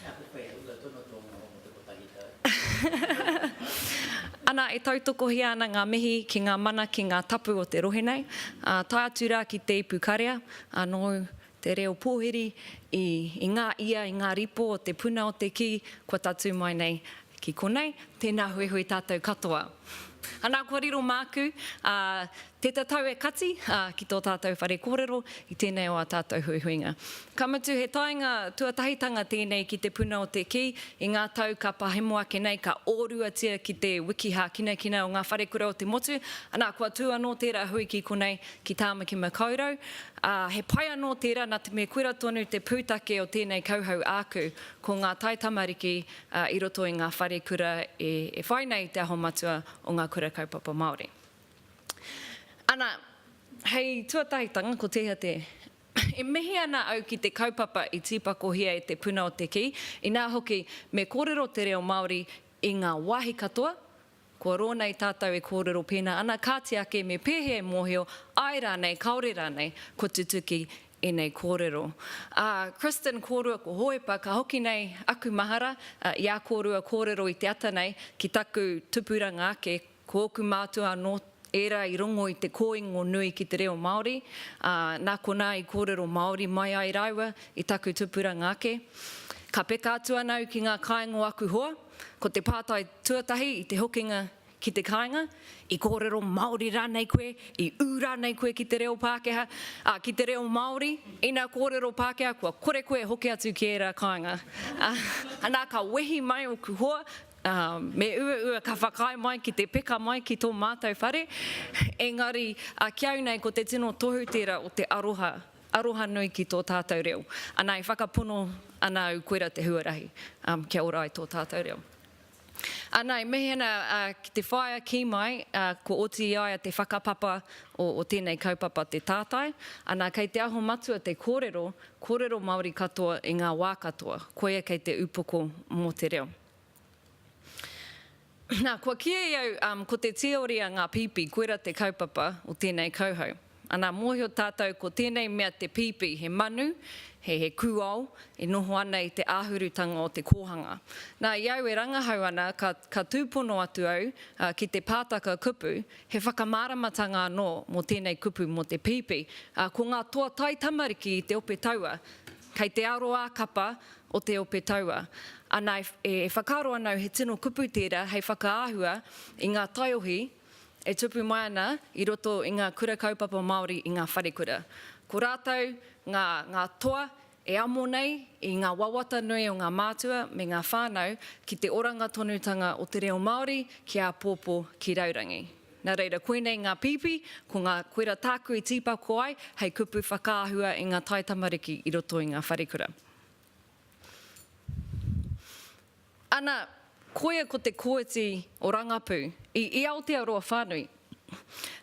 He ako pai e uta tonu tō noho mō te kotahi tau. Ana, e tautokohia ana ngā mihi ki ngā mana, ki ngā tapu o te rohe nei, ā, tae atu rā ki Te Ipu Karea, anō te reo pōhiri i ngā ia, i ngā ripo o te puna o te kī, kua tatū mai nei ki konei. Tēnā huihui tātou katoa. Ana, kua riro māku, ā, Te tatau e kati, ā, ki tō tātou whare kōrero, i tēnei o ā tātou huihuinga. Ka mutu he taenga tuatahitanga tēnei ki Te Puna o te Kī, i ngā tau ka pahemo ake nei, ka ōruatia ki te wiki hākinakina o ngā wharekura o te motu, anā, kua tū anō tērā hui ki konei, ki Tāmaki Makaurau, ā, he pai anō tērā nā te mea koira tonu te pūtake o tēnei kauhau āku, ko ngā taitamariki i roto i ngā wharekura e whai nei i te aho matua o ngā Kura Kaupapa Māori. Ana, hei tuatahitanga, ko tēhea te. E mihi ana au ki te kaupapa i tīpakohia e Te Puna o te Kī, inā hoki, me kōrero te reo Māori i ngā wāhi katoa, kua roa nei tātou e kōrero pēnā ana, kāti ake me pēhea e mōhio, āe rānei, kāore rānei, kua tutuki ēnei kōrero. Ā, Kristin kōrua ko Hōhepa, ka hoki nei aku mahara i ā kōrua kōrero i te ata nei ki taku tupuranga ake, Ko ōku mātua anō ērā i rongo i te kōingo nui ki te reo Māori, ā, nā konā i kōrero Māori mai ai rāua i taku tupuranga ake. Ka peka atu ana au ki ngā kāinga o aku hoa, ko te pātai tuatahi i te hokinga ki te kāinga, i kōrero Māori rānei koe, i ū rānei koe ki te reo Pākehā, ā, ki te reo Māori? Ina kōrero Pākehā, kua kore koe e hoki atu ki ērā kāinga? Ā, nā, ka wehi mai ōku hoa, Ā, me uaua ka whakaae mai ki te peka mai ki tō mātou whare, engari a Kiau nei ko te tino tohu tērā o te aroha, aroha nui ki tō tātou reo. Anā, e whakapono ana au koira te huarahi, ā, kia ora ai tō tātou reo. Anā, e mihi ana ki te whaea kī mai, ā, kua oti i a ia te whakapapa o, o tēnei kaupapa te tātai. Anā, kei te aho matua te kōrero, kōrero Māori katoa i ngā wā katoa, koia kei te upoko mō te reo. Nā, kua kīia i au, um, ko te tīoria ngā pīpī, koira te kaupapa o tēnei kauhau. Anā, mōhio tātou ko tēnei mea te pīpī, he manu, he he kūao e noho ana i te āhurutanga o te kōhanga. Nā, i au e rangahau ana, ka, ka tūpono atu au uh, ki te pātaka kupu, he whakamāramatanga anō mō tēnei kupu mō te pīpī. Uh, ko ngā toa taitamariki i te ope taua, kei te aro ā-kapa o te ope taua. Ana, e whakaaro ana au he tino kupu tērā hei whakaahua i ngā taiohi e tupu mai ana i roto i ngā Kura Kaupapa Māori i ngā wharekura. Ko rātou ngā, ngā toa e amo nei i ngā wawata nui o ngā mātua me ngā whānau ki te oranga tonutanga o te reo Māori ki āpōpō, ki raurangi. Nā reira, koinei ngā pīpī, ko ngā koera tāku i tīpako ai hei kupu whakaahua i ngā taitamariki i roto i ngā wharekura. Ana, koia ko te kooti o Rangapu i i Aotearoa whānui.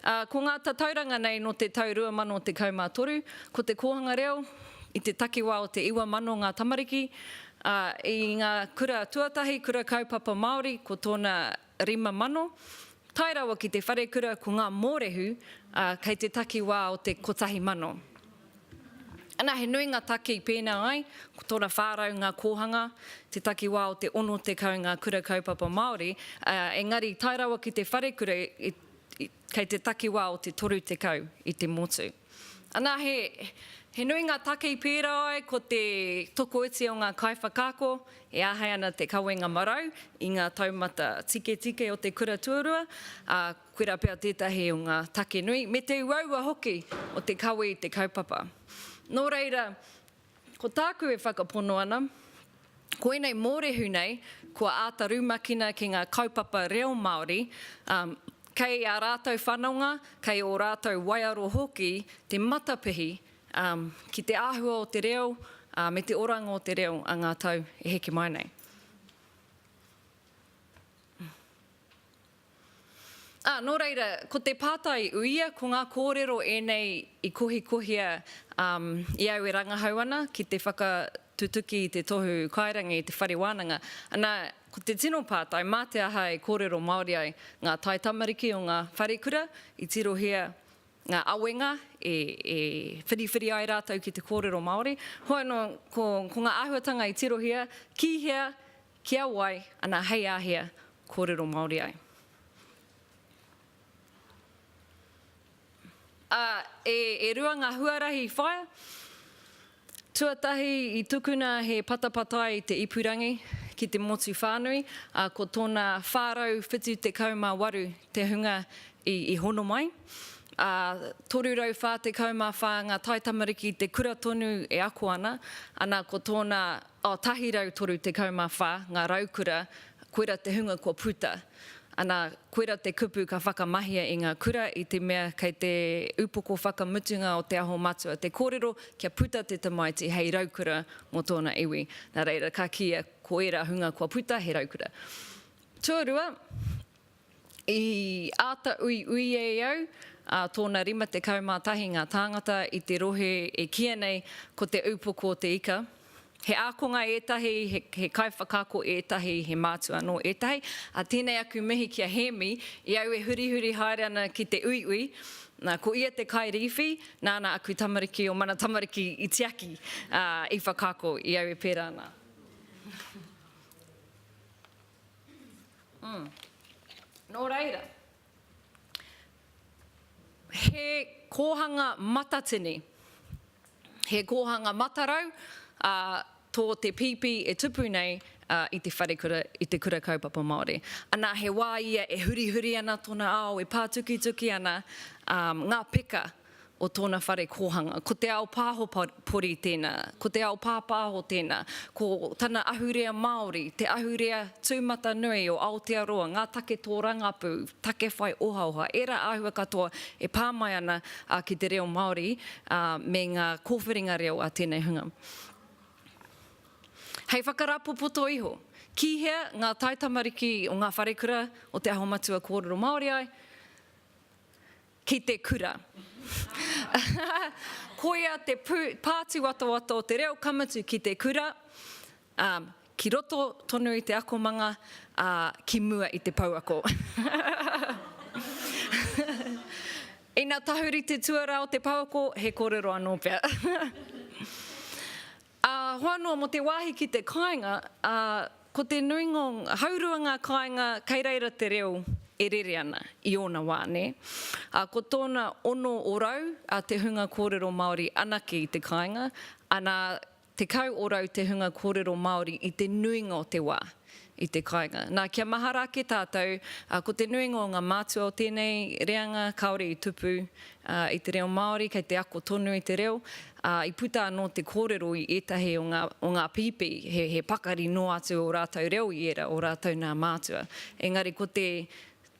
Ā, ko ngā tatauranga nei nō te tau 2013, ko te kōhanga reo i te takiwā o te 9,000 ngā tamariki, ā, i ngā kura tuatahi, kura kaupapa Māori, ko tōna Rima mano, tae rawa ki te wharekura ko ngā mōrehu, ā, kei te takiwā o te kotahi mano. Ana, he nui ngā taki pēnā ai, ko tōna whā rau ngā kōhanga, te takiwā o te ono tekau ngā kura kaupapa Māori, ā, engari tae rawa ki te wharekura i, i, Kei te takiwā o te 30 i te motu. Anā, he, he nui ngā take i pērā ai ko te tokoiti o ngā kaiwhakaako e āhei ana te kawenga marau i ngā taumata tiketike o te kura tuarua, ā, koirā pea tētahi o ngā take nui, me te uaua hoki o te kawe i te kaupapa. Nō reira, Ko tāku e whakapono ana, ko ēnei mōrehu nei kua āta rumakina ki ngā kaupapa reo Māori, ā, kei ā rātou whanonga, kei ō rātou waiaro hoki te matapihi ki te āhua o te reo me te oranga o te reo a ngā tau e heke mai nei. Ā, nō reira, ko te pātai uia, ko ngā kōrero ēnei i kohikohia i au e rangahau ana ki te whakatutuki i te tohu kairangi i te whare wānanga. Ana, ko te tino pātai, mā te aha e kōrero Māori ai ngā taitamariki o ngā wharekura, i tirohia ngā awenga e whiriwhiri ai rātou ki te kōrero Māori? Hoi anō, ko ngā āhuatanga i tirohia, ki hea, Ki a wai, ana hei āhea, kōrero Māori ai. Ā, e rua ngā huarahi i whaia. Tuatahi i tukuna he patapatai i te ipurangi ki te motu whānui, ā, ko tōna 478 te hunga i hono mai. Ā, 344 ngā taitamariki i te kura tonu e ako ana, ana ko tōna. 134 ngā raukura, koira te hunga kua puta. Ana, koira te kupu ka whakamahia i ngā kura i te mea kei te upoko whakamutunga o Te Aho Matua te kōrero kia puta te tamaiti hei raukura mō tōna iwi. Nā reira ka kīia koira hunga kua puta he raukura. Tuarua, I āta uiui e au, ā, tōna 51 ngā tāngata i te rohe e kīia nei ko Te Upoko o te Ika. He ākonga ētahi, he kaiwhakaako ētahi, he mātua anō ētahi. Ā, tēnei aku mihi ki a Hēmi, i au e hurihuri haere ana ki te uiui, nā, ko ia te kairīwhi, nāna aku tamariki o Mana Tamariki i tiaki, ā, i whakaako i au e pērā ana. Nō reira, he kōhanga matatini, he kōhanga matarau tō te pīpī e tupu nei i te wharekura, i te Kura Kaupapa Māori. Anā, he wā ia e hurihuri ana tōna ao, e pātukituki ana ngā peka. o tōna whare kōhanga. Ko te ao pāho pori tēnā, ko te ao pāpāho tēnā, ko tana ahurea Māori, te ahurea tūmatanui o Aotearoa, ngā take tōrangapū, take whai ohaoha, ērā āhua katoa e pā mai ana ki te reo Māori me ngā kōwhiringa reo a tēnei hunga. Hei whakarāpopoto iho, ki hea ngā taitamariki o ngā wharekura o Te Aho Matua kōrero Māori ai? Ki te kura. Koia te pātuwatowato o te reo ka mutu ki te kura, ki roto tonu i te akomanga, ā, ki mua i te pouako. Ina tahuri te tuarā o te pouako, he kōrero anō pea. Ā, hoa noa mō te wāhi ki te kāinga, ā, ko te nuinga o ngā. Haurua ngā kāinga kei reira te reo e rere ana i ōna wā, nē. Ā, ko tōna ono orau te hunga kōrero Māori anake i te kāinga, anā, tekau orau te hunga kōrero Māori i te nuinga o te wā. i te kāinga. Nā, kia mahara ake tātou, ā, ko te nuinga o ngā mātua o tēnei reanga kāore i tupu, ā, i te reo Māori, kei te ako tonu i te reo, ā, i puta anō te kōrero i ētahi o ngā, o ngā pīpī, he, he pakari noa atu ō rātou reo i ērā o rātou nā mātua. Engari ko te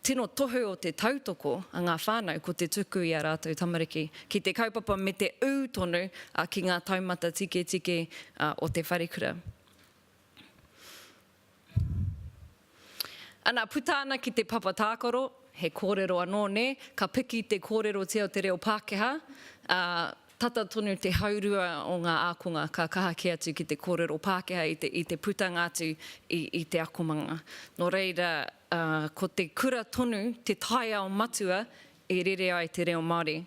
tino tohu o te tautoko a ngā whānau, ko te tuku i ā rātou tamariki ki te kaupapa me te ū tonu, ā, ki ngā taumata tiketike, ā, o te wharekura. Ana, puta ana ki te papa tākaro, he kōrero anō nē, ka piki te kōrerotia o te reo Pākehā, ā, tata tonu te haurua o ngā ākonga ka kaha kē atu ki te kōrero Pākehā i te putanga atu i te akomanga. Nō reira, ko te kura tonu te taiao matua e rere ai te reo Māori.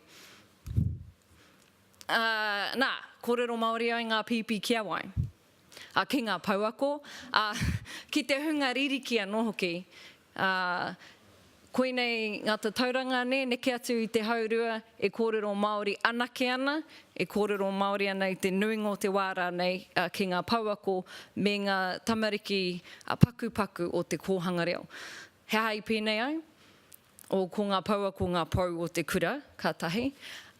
Ā, nā, kōrero Māori ai ngā pīpī ki a wai? a ki ngā pouako, ā, ki te hunga ririki anō hoki. Ā, koinei ngā tatauranga nē, neke atu i te haurua e kōrero Māori anake ana, e kōrero Māori ana i te nuinga o te wā rānei ki ngā pouako me ngā tamariki pakupaku o te kōhanga reo. He aha i pēnei ai? Oh, ko nga poua ko nga pou o te kura, ka tahi.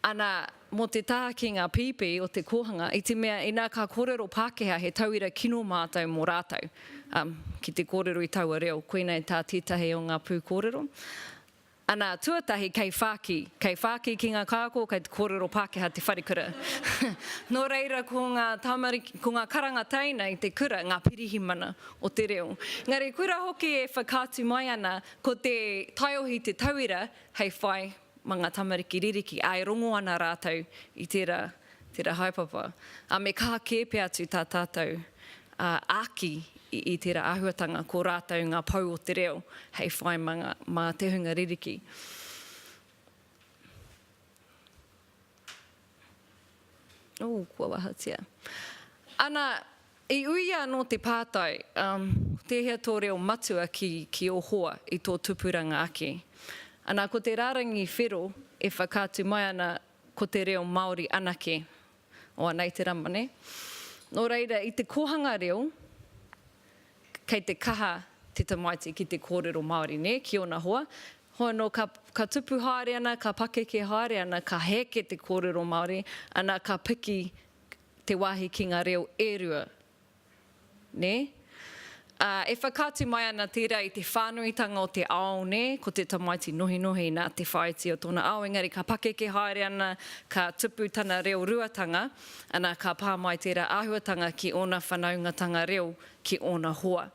Ana, mo te taha ki nga pipi o te kohanga, i te mea ina ka korero Pakeha he tauira kino matou mo ratou, um, ki te korero i taua reo, koinei ta tetahi o nga pukorero. Ana, tuatahi kei whaki, kei whaki ki nga kako kei te korero Pakeha te wharekura. no reira ko nga tamariki, ko nga karanga teina i te kura nga pirihimana o te reo. Engari kura hoki e whakaatu mai ana Ko te taiohi te tauira hei whai ma nga tamariki ririki, a e rongo ana ratou i tera, tera haepapa, a me kaha ke pea atu ta tatou aki i tera ahuatanga ko ratou nga pou o te reo hei whai ma nga, ma te hunga ririki. Ooh, kua wahatia. Ana, i uia anō te pātai, umm, ko tēhea tō reo matua ki, ki ō hoa i tō tupuranga ake? Ana, ko te rārangi whero e whakaatu mai ana ko te reo Māori anake. Oanei te rama, nē? Nō reira, i te kōhanga reo, kei te kaha te tamaiti ki te kōrero Māori, nē, ki ōna hoa. Hoi nō, ka, ka tupu haere ana, ka pakeke haere ana, ka heke te kōrero Māori, ana ka piki te wāhi ki ngā reo e rua, nē. Ā, e whakaatu mai ana tērā i te whānuitanga o te ao, nē, ko te tamaiti nohinohi nā te whāiti o tōna ao, engari ka pakeke haere ana, ka tupu tana reo ruatanga. Ana, ka pā mai tērā āhuatanga ki ōna whanaungatanga reo, ki ōna hoa.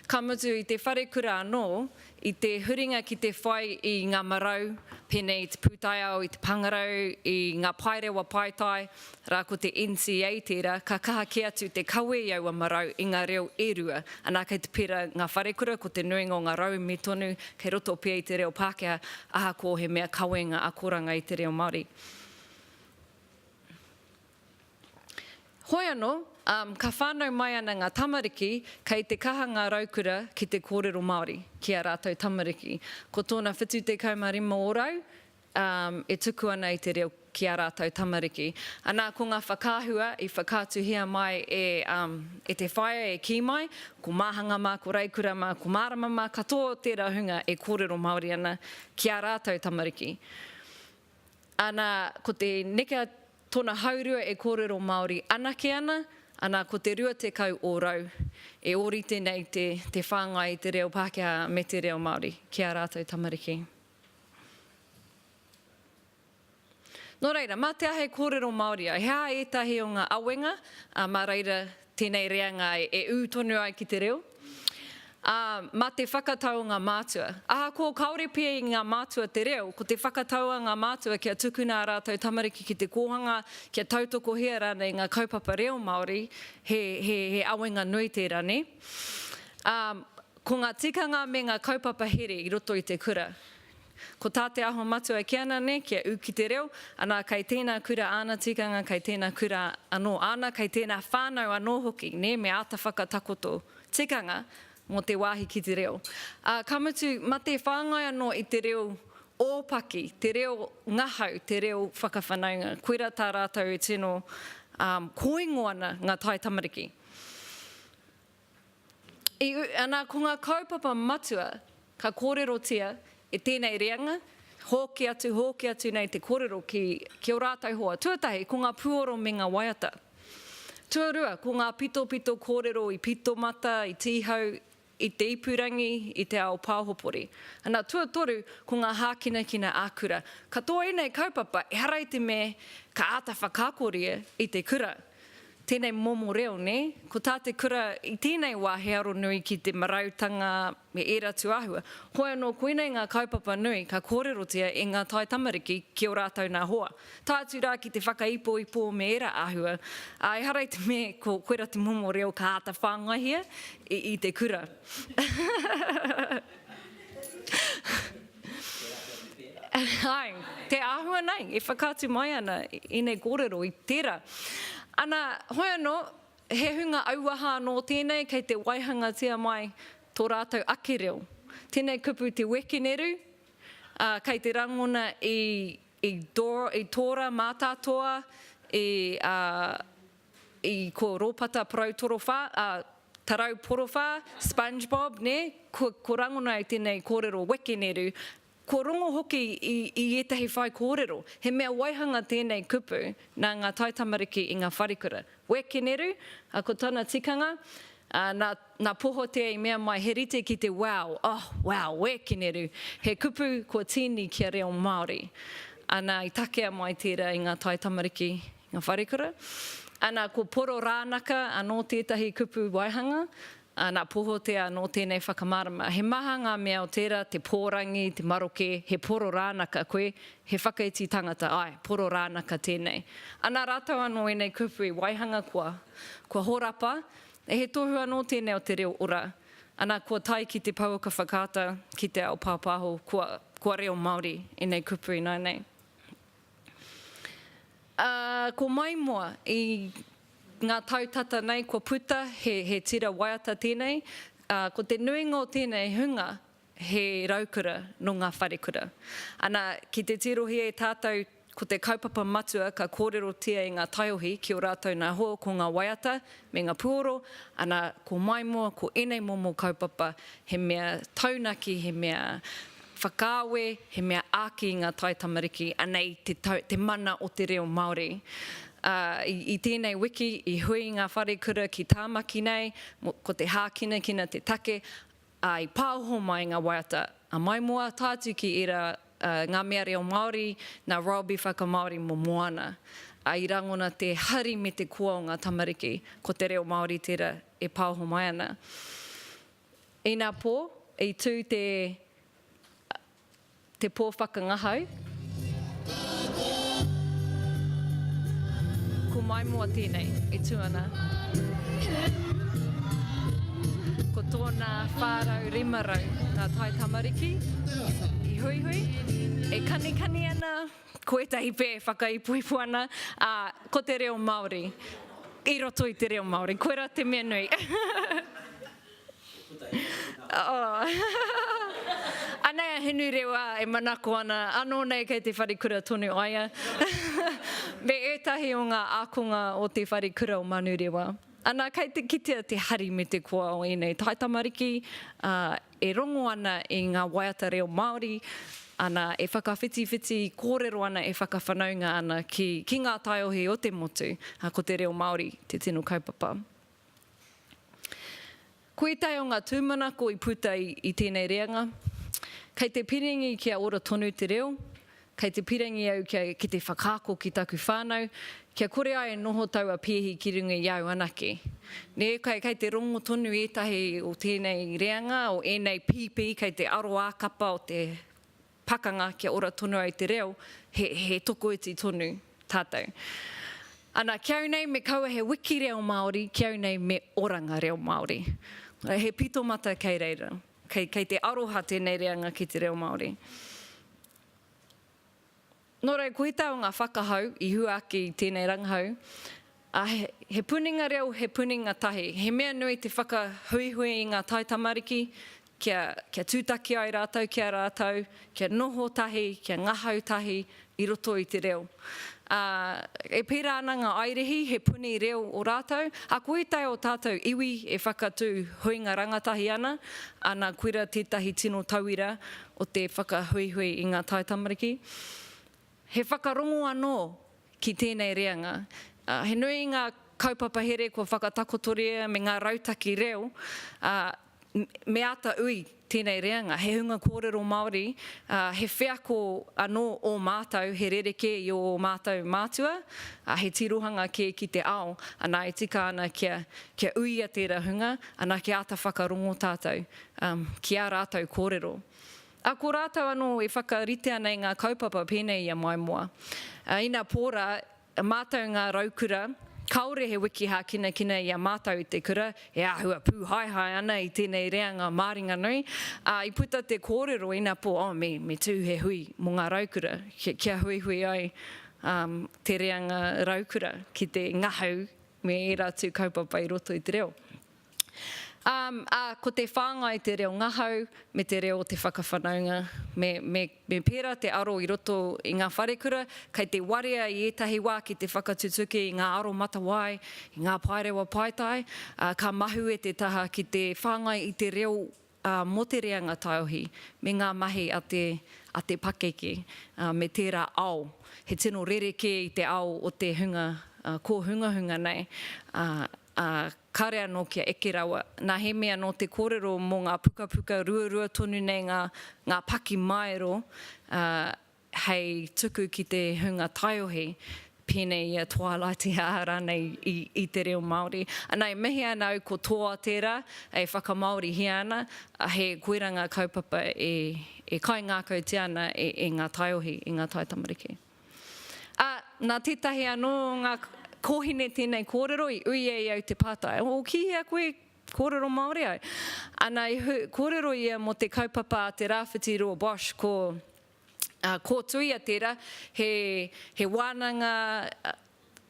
Ka mutu, i te wharekura anō, i te huringa ki te whai i ngā marau, pēnei i te pūtaiao, i te pāngarau, i ngā paerewa paetae, rā ko te NCA tērā, ka kaha kē atu te kawe i aua marau i ngā reo e rua. Ana, kei te pērā ngā wharekura, ko te nuinga o ngā rauemi tonu, kei roto pea i te reo Pākehā, ahakoa he mea kawenga akoranga i te reo Māori. Hoi ano, um, ka whanau mai ana nga tamariki kei te kaha nga raukura ki te korero Maori ki a ratou tamariki. Ko tona 75 orau, um, e tuku ana i te reo ki a ratou tamariki. Ana ko nga whakaahua i whakaatuhia mai e, um, e te whaea e ki mai, ko Mahanga ma, ko Raikura ma, ko Marama ma, katoa o tera hunga e korero Maori ana ki a ratou tamariki. Ana, ko te neke a tona haurua e korero Maori anake ana, ana, ko te rua tekau orau e orite nei te te whangai i te reo Pakeha me te reo Maori ki a ratou tamariki. No reira, ma te aha e korero Maori ai? He aha etahi o nga awenga, a ma reira tēnei reanga e ū tonu ai ki te reo, ā, mā te whakatau o ngā mātua. Ahakoa kāore pea i ngā mātua te reo, ko te whakatau a ngā mātua kia tukuna ā rātou tamariki ki te kōhanga, kia tautokohia rānei ngā kaupapa reo Māori, he awenga nui tērā, nē? Ko ngā tikanga me ngā kaupapa here i roto i te kura. Ko tā Te Aho Matua kē ana nei kia ū ki te reo, anā kei tēnā kura āna tikanga, kei tēnā kura anō āna, kei tēnā whānau anō hoki, nē, me āta whakatakoto tikanga mō te wāhi ki te reo. Ā, ka mutu, mate whāngai anō i te reo ōpaki, te reo ngahau, te reo whakawhanaunga. Koirā tā rātou e tino kōingo ana ngā taitamariki. I u, ana ko ngā kaupapa matua ka kōrerotia e tēnei reanga, hōki atu, hōki atu nei te kōrero ki, ki ō rātou hoa. Tuatahi, ko ngā puoro me ngā waiata. Tuarua, ko ngā pitopito kōrero i Pitomata, i Tīhau, i te ipurangi, i te ao pāhopori. Ana, tuatoru, ko ngā hākinakina ā-kura. Katoa ēnei kaupapa, ehara i te me ka āta whakaakoria i te kura. Tēnei momo reo, nē? Ko tā te kura i tēnei wā he aro nui ki te marautanga me ērā atu āhua. Hoi anō, koinei ngā kaupapa nui ka kōrerotia e ngā tai tamariki ki ō rātou nā hoa, tae atu rā ki te whakaipoipo me ērā āhua, ā, ehara i te mea ko koirā te momo reo ka āta whāngaihia i te kura. Āe, te āhua nei e whakaatu mai ana i nei kōrero, i tērā. Ana, hoi anō, he hunga auaha anō tēnei kei te waihangatia mai tō rātou ake reo. Tēnei kupu te wekeneru, ā, kei te rangona i, i, i tōra mātātoa, i, ā, I ko Ropata Parau Torowha, a, Tarau Porowha, Spongebob, ne, ko, ko rangona i tenei korero wekeneru, ko rongo hoki i, i etahi whaikōrero. He mea waihanga tenei kupu na nga taitamariki i nga wharekura. Wekeneru, a ko tana tikanga, a, na, na Pohotea i mea mai he rite ki te wow, oh, wow, wekeneru, he kupu kua tīni kia reo Māori. Ana i takea mai tera i nga taitamariki Ngā wharekura. Ana, ko Poro Rānaka anō tētahi kupu waihanga, ana, Pohotea anō tēnei whakamārama. He maha ngā mea o tērā, te pōrangi, te maroke, he Poro Rānaka koe, he whakaiti tangata, āe, Poro Rānaka tēnei. Ana, rātou anō ēnei kupu i waihanga kua, kua horapa, e he tohu anō tēnei o te reo ora, ana, kua tae ki te pouaka whakaata, ki te ao pāpāho, kua, kua reo Māori ēnei kupu ināianei. Ā, ko Maimoa, i ngā tau tata nei kua puta, he, he tira waiata tēnei, ā, ko te nuinga o tēnei hunga, he raukura nō ngā wharekura. Ana, ki te tirohia e tātou ko te kaupapa matua ka kōrerotia e ngā taiohi ki ō rātou nā hoa ko ngā waiata me ngā puoro, ana, ko Maimoa, ko ēnei momo kaupapa he mea taunaki, he mea Whakaawe, he mea āki i ngā taitamariki, anei te tau, te mana o te reo Māori. Ā, i, i tēnei wiki, i hui ngā wharekura ki Tāmaki nei, mō, ko te hākinakina te take, ā, i pāoho mai ngā waiata, ā, mai mō āta atu ki ērā, ā, ngā mea reo Māori, nā Roby Whakamāori mō Moana. Ā, i rangona te hari me te koa o ngā tamariki, ko te reo Māori tērā e pāoho mai ana. Ina pō, i tū te te pō whakangahau. Ko Maimoa tēnei e tū ana. Ko tōna 450 ngā taitamariki i huihui, e kanikani ana. ko ētahi pē e whakaipuipu ana, ā, ko te reo Māori, i roto i te reo Māori. Koirā te mea nui. Anei a Hinurewa e manako ana, anō nei kei te wharekura tonu a ia, me ētahi o ngā ākonga o te wharekura o Manurewa. Anā, kei te kitea te hari me te koa o ēnei taitamariki, ā, e rongo ana i ngā waiata reo Māori, ana, e whakawhitiwhiti kōrero ana, e whakawhanaunga ana ki, ki ngā taiohi o te motu, ā, ko te reo Māori te tino kaupapa. Koe tae o ngā tūmanako i puta i, i tēnei reanga, kei te piringi kia ora tonu te reo, Kei te pirangi au kia ki te whakaako ki taku whānau, kia kore ai e noho taua pēhi ki runga i au anake. Nē, kei, kei te rongo tonu ētahi o tēnei reanga, o ēnei pīpī, kei te aro ā-kapa o te pakanga kia ora tonu ai te reo, he, he tokoiti tonu tātou. Ana, ki au nei me kaua he wiki reo Māori, ki au nei me oranga reo Māori. He pito mata kei reira. Kei, kei te aroha tēnei reanga ki te reo Māori. Nō reira, ko ētahi o ngā whakahau i hua ake i tēnei rangahau, ā, he, he puninga reo, he puninga tahi. He mea nui te whakahuihui i ngā taitamariki kia, kia tūtaki ai rātou ki a rātou, kia noho tahi, kia ngahau tahi, i roto i te reo. Ā, e pērā ana ngā Airihi, he puni reo ō rātou, ā, ko ētahi o tātou iwi e whakatū huinga rangatahi ana, ā, nā Kuira tētahi tino tauira o te whakahuihui i ngā taitamariki. He whakarongo anō ki tēnei reanga. Ā, he nui ngā kaupapa here kua whakatakotoria me ngā rautaki reo, ā, Me āta ui tēnei reanga, he hunga kōrero Māori, ā, he wheako anō ō mātou, he rerekē i ō mātou mātua, ā, he tirohanga kē ki te ao, anā e tika ana kia, kia uia tērā hunga, anā kia āta whakarongo tātou, ā, ki ā rātou kōrero. Ā, ko rātou anō e whakaritea nei ngā kaupapa pēnei i a Maimoa. Ā, ina pō rā, A mātou ngā raukura, kāore he wiki hākinakina i a mātou i te kura, e āhua pūhaehae ana i tēnei reanga māringanui, ā, i puta te kōrero ina pō, oh, me, me tū he hui mō ngā raukura, ki, kia huihui ai um, te reanga raukura ki te ngahau me ērā tū kaupapa i roto i te reo. Um, ā, ko te whāngai te reo ngahau me te reo o te whakawhanaunga. Me, me, me pērā te aro i roto i ngā wharekura, kei te warea i ētahi wā ki te whakatutuki i ngā aromatawai, i ngā paerewa paetae, ā, ka mahue te taha ki te whāngai i te reo ā, mō te reanga taiohi, me ngā mahi a te, a te pakeke, ā, me tērā ao. He tino rerekē i te ao o te hunga ā, kōhungahunga nei, ā, ā, kāre anō kia eke rawa. Nā he mea nō te kōrero mō ngā pukapuka ruarua tonu nei ngā, ngā pakimaero, ā, hei tuku ki te hunga taiohi, pēnei i a Twilight i a rānei i, i te reo Māori. Anā, e mihi ana au ko Toa tērā e whakamāorihia ana, ā, he koirā ngā kaupapa e, e kaingākautia ana e, e ngā taiohi, e ngā taitamariki. Ā, nā tētahi anō o ngā kōhine tēnei kōrero i ui ai au te pātai, O, ki hea koe kōrero Māori au? Ana i hu, kōrero ia mō te kaupapa a te Rāwhiti Rua Bosch, ko, ā, kōtuia tērā, he, he wānanga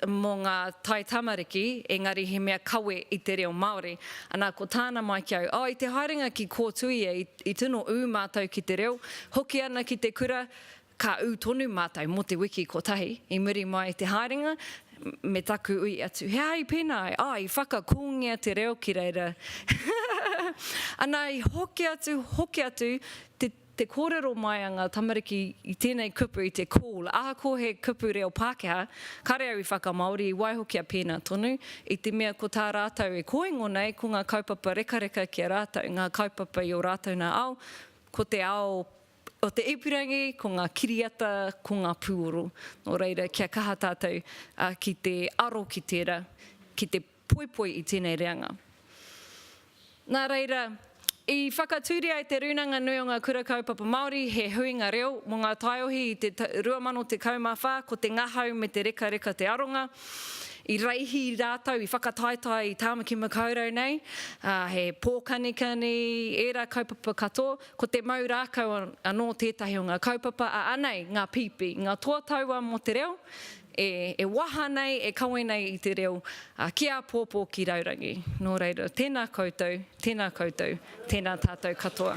mō ngā tai tamariki, engari he mea kawe i te reo Māori. Ana ko tāna mai ki au, O, i te haerenga ki kōtuia i, i tino ū mātou ki te reo, hoki ana ki te kura, Ka ū tonu mātou mō te wiki kotahi, i muri mai i te haerenga, me taku ui atu, He aha i pēnā ai? Ā, i whakakōngia te reo ki reira. Anā, i hoki atu, hoki atu te, te kōrero mai a ngā tamariki i tēnei kupu, i te call. Ahakoa he kupu reo Pākehā, kāre au i whakamāori, i waiho kia pēnā tonu, i te mea ko tā rātou e kōingo nei, ko ngā kaupapa rekareka ki a rātou, ngā kaupapa i ō rātou nā ao, ko te ao o te ipurangi, ko ngā kiriata, ko ngā pūoro. Nō reira, kia kaha tātou ki te aro ki tērā, ki te poipoi i tēnei reanga. Nā reira, i whakatūria e Te Rūnanga Nui o Ngā Kura Kaupapa Māori he huinga reo mō ngā taiohi i te 2014, ko te ngahau me te rekareka te aronga. I reihi rātou, i whakataetae i Tāmaki Makaurau nei, he pōkanikani, ērā kaupapa katoa, Ko te mau rākau anō tētahi o ngā kaupapa a Anei, ngā pīpī, ngā toa taua mō te reo, e waha nei, e kawe nei i te reo, ki āpōpō, ki raurangi. Nō reira, tēnā koutou, tēnā koutou, tēnā tātou katoa.